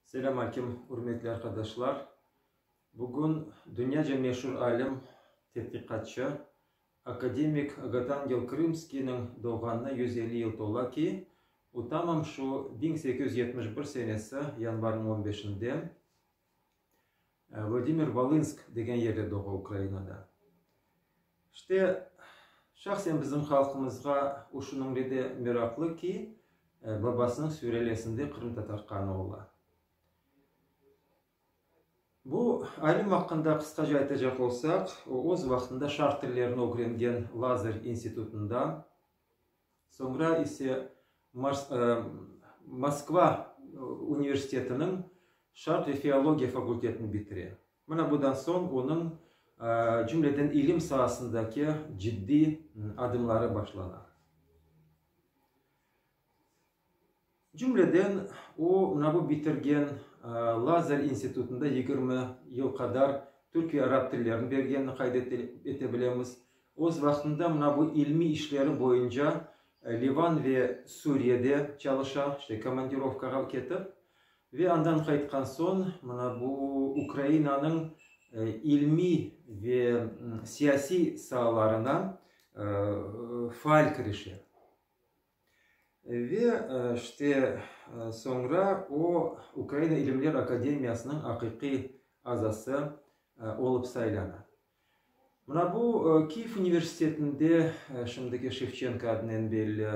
Selâmaleyküm, ürmetli arqadaşlar! Bugün dünyaca meşur alim, tedqiqatçı, akademik Agataangel Krımskiyniñ doğğanına yüz elli yıl tola ki, o tamam şu biñ sekiz yüz yetmiş bir senesi yanvarnıñ on beşinde, Vladimir Volınsk degen yerde doğa Ukrainada. İşte, şahsen bizim halqımızğa o şunıñle de meraqlı ki, babasınıñ sülalesinde qırımtatar qanı ola. Bu alim aqqında qısqaca aytacaq olsaq, o, öz vaqtında şarq tillerini ögrengen Lazarь institutında, Soñra ise Moskva universitetiniñ Şarq ve filologiya fakultetini bitire. Mına bundan soñ onıñ, cümleden ilim saasındaki ciddiy adımları başlana. Cümleden, o, NABU bitirgen, Lazer institutında yigirmi yıl qadar türk ve arap tillerini bergenini qayd ete bilemiz. Öz vaqtında NABU ilmiy işleri boyunca Livan ve Suriyede çalışa, işte, komandirovkağa ketip, ve andan qaytqan soñ, mına bu Ukrainanıñ ilmiy ve siyasiy saalarına faal kirişe. Ve işte, soñra o, Ukraina İlimler Akademiyasınıñ aqiqiy azası olıp saylana. Mına bu, Kyiv universitetinde, şimdiki Şevçenko adnen belli,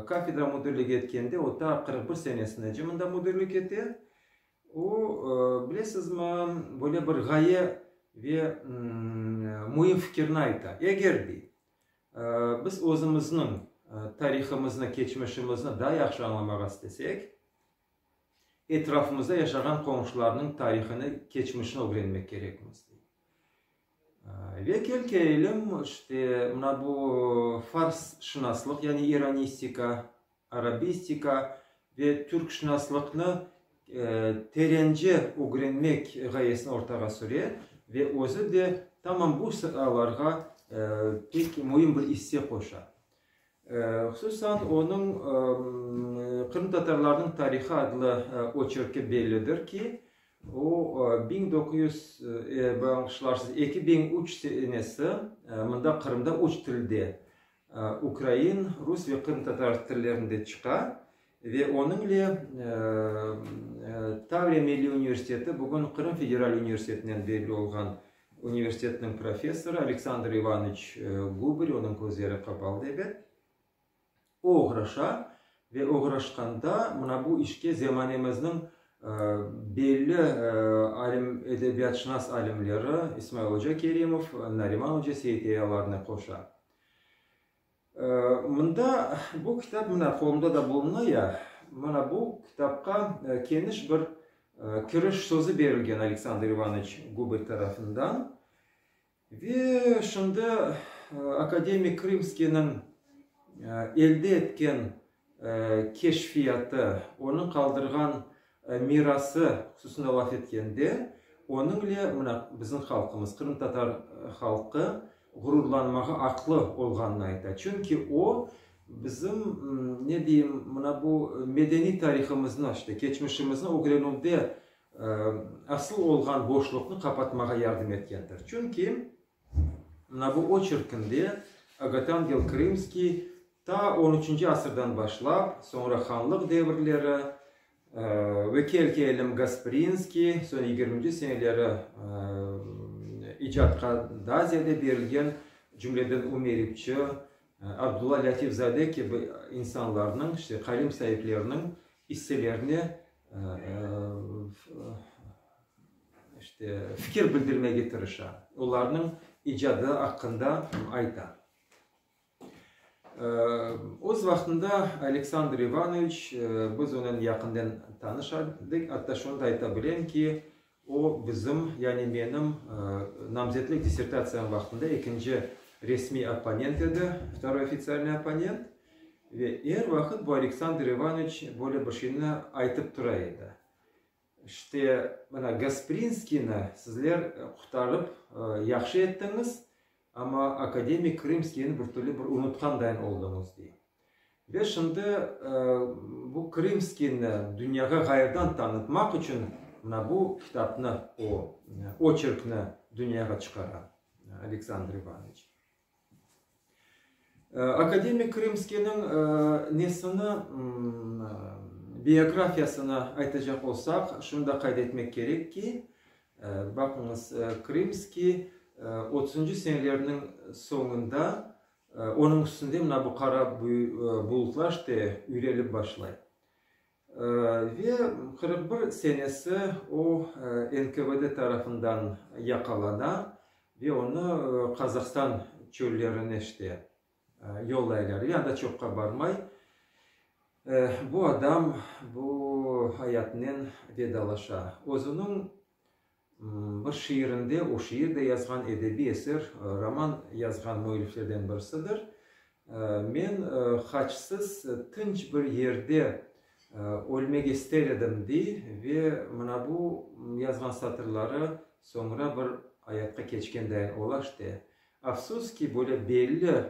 kafedra müdirlik etkende, o ta qırq bir senesinece mında müdirlik ete. O, bilesizmi, böyle bir ğaye ve müim fikirini ayta, eger dey, Biz özümizniñ tarihımıznı, keçmişimizni daa yahşı añlamağa istesek, etrafımızda yaşağan qonşularnıñ tarihını, keçmişini ögrenmek kerekmiz. Ve kel kelelim, işte, mına bu farsşınaslıq, yani iranistika, arabistika ve türkşınaslıqnı terence ögrenmek ğayesini ortağa süre ve özü de tamam bu saalarğa pek müim bir isse qoşa. Hususan, onıñ Qırımtatarlarnıñ tarihı adlı oçerki bellidir ki, o, biñ doquz yüz, bağışlarsız, eki biñ üç senesi mında, Qırımda, üç tilde, Ukrain, rus ve qırımtatar tillerinde çıqa ve onıñle Tavriya milliy universiteti, bugün Qırım federal universitetinen belli olğan universitetiniñ professorı Aleksandr İvanoviç Gubırı, onıñ közleri qapalıdır edi, o oğraşa ve oğraşqanda mına bu işke zemanemizniñ belli alim, edebiyatşınas alimleri İsmail oca Kerimov, Nariman oca Seyiteyyalarnı qoşa. Mında bu kitap, mına qolumda da buluna ya, mına bu kitapqa keniş bir kiriş sözü berilgen Aleksandr İvaniç Gubel tarafından. Ve şimdi akademik Krımskiyniñ elde etken keşfiyatı, onıñ qaldırğan mirası hususında laf etkende, onıñle mına bizim halqımız, qırımtatar halqı ğururlanmağa aqlı olğanını ayta. Çünki o, bizim, ne deyim, mına bu medeniy tarihımıznı, işte keçmişimizni ögrenüvde asıl olğan boşluqnı qapatmağa yardım etkendir. Çünki. Navo oçerkinde Agotangel Krımskiy ta on üçünci asırdan başlap, soñra hanlıq devirleri, ve Kelki Elim Gasprinskiy, soñ yigirminci seneleri icatqa daa ziyade berilgen, cümleden Ümeripçi, Abdulla Lâtifzade kibi insanlarnıñ, işte qalem saipleriniñ isselerine İşte, fikir bildirmege tırışa, olarnıñ icadı aqqında ayta. Öz vaqtında Aleksandr İvanoviç, biz onıñ yaqından tanış edik, atta şunı da ayta bilem ki, o, bizim, yani menim namzetlik dissertatsiyam vaqtında ekinci resmiy opponent edi, vtoroy ofitsialnıy opponent, ve er vaqıt bu Aleksandr İvanoviç böyle bir şeyni aytıp tura edi. İşte, mana Gasprinskiyni sizler qurtarıp yahşı ettiñiz, amma akademik Krımskiyni bir türlü bir unutqandayn olduñız, dey. Ve şimdi bu Krımskiyni dünyağa ğayırdan tanıtmaq içün mına bu kitapnı, o oçerkni dünyağa çıqara Aleksandr İvanoviç. Akademik Krımskiyniñ nesini, biografiyasını aytacaq olsaq, şunı da qayd etmek kerek ki, baqıñız, Krımskiy otuzıncı senelerniñ soñunda, onıñ üstünde mına bu qara bulutlar, işte, yüyelip başlay. Ve qırq bir senesi o NKVD tarafından yaqalana ve onı Qazahstan çöllerine işte yollaylar. Ve anda çoqqa barmay bu adam bu ayatınen vedalaşa. Özüniñ Bir şiirinde o şiir de yazğan, edebiy eser, roman yazğan müelliflerden birisidir. Men haçsız tınç bir yerde ölmek ester edim, dey ve mına bu yazğan satırları soñra bir ayatqa keçkendeñ ola işte. Afsus ki, böyle belli,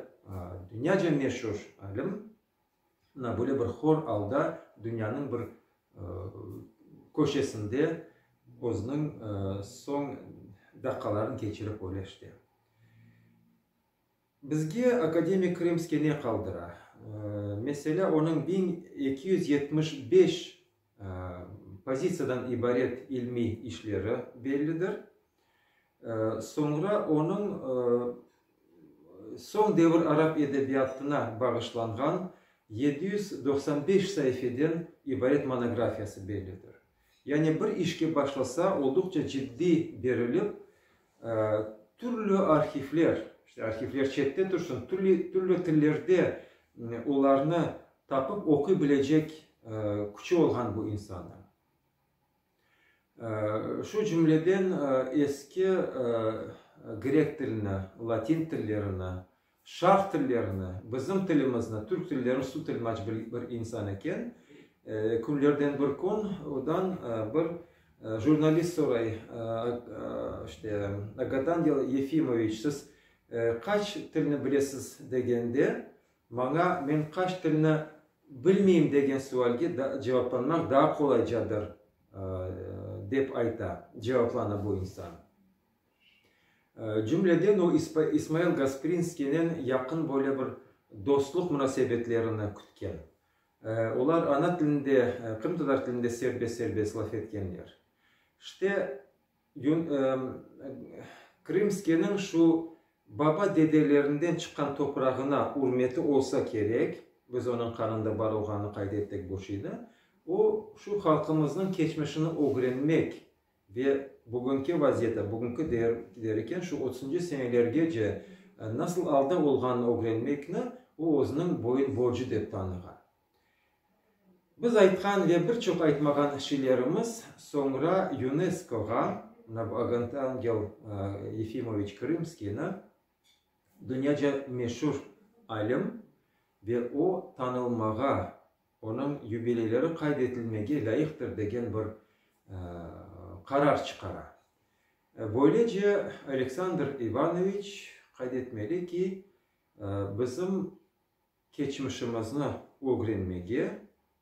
dünyaca meşur alim, Na, böyle bir hor alda dünyanıñ bir köşesinde özüniñ soñ daqqalarını keçirip öyle işte. Bizge akademik Krımskiy ne qaldıra? Meselâ, onıñ biñ eki yüz yetmiş beş Pozitsiyadan ibaret ilmiy işleri bellidir. Soñra onıñ soñ devir arap edebiyatına bağışlanğan yedi yüz doqsan beş saifeden ibaret monografiyası bellidir. Yani bir işke başlasa, olduqça ciddiy berilip, Türlü arhivler, işte, arhivler çette tursın, türlü, türlü tillerde olarnı tapıp oquy bilecek küçü olğan bu insannıñ. Şu cümleden eski grek tilini, latin tillerini, Şarq tillerini, bizim tilimizni, türk tillerini su tilmaç bilip bir insan eken. Künlerden bir kün odan bir jurnalist soray, işte, Agadan Yefimoviç, siz qaç tilni bilesiz degende, maña, men qaç tilni bilmeyim degen sualge cevaplanmaq daa qolaycadır, dep ayta, cevaplanı bu insan. Cümleden o, İsmail Gasprinskiynen yaqın böyle bir dostluq munasebetlerini kütken. Olar ana tilinde, qırımtatar tilinde serbest-serbest laf etkenler. İşte, Krımskiyniñ şu baba-dedelerinden çıqqan toprağına ürmeti olsa kerek, biz onıñ qanında bar olğanını qayd ettik bu şeyde, o, şu halqımıznıñ keçmişini ögrenmek Ve bugünki vaziyeti, bugünki der eken, şu otuzıncı senelergece nasıl alda olğanını ögrenmekni o, özüniñ boyun borcu dep tanığan. Biz aytqan ve bir çoq aytmağan şeylerimiz soñra UNESKOğa, mına bu Aganangel Yefimoviç Krımskiyni, dünyaca meşur alim, ve o, tanılmağa. Onıñ yubileyleri qayd etilmege lâyıqtır degen bir qarar çıqara. Böylece, Aleksandr İvanoviç, qayd etmeli ki, bizim keçmişimizni ögrenmege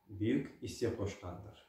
büyük isse qoşqandır.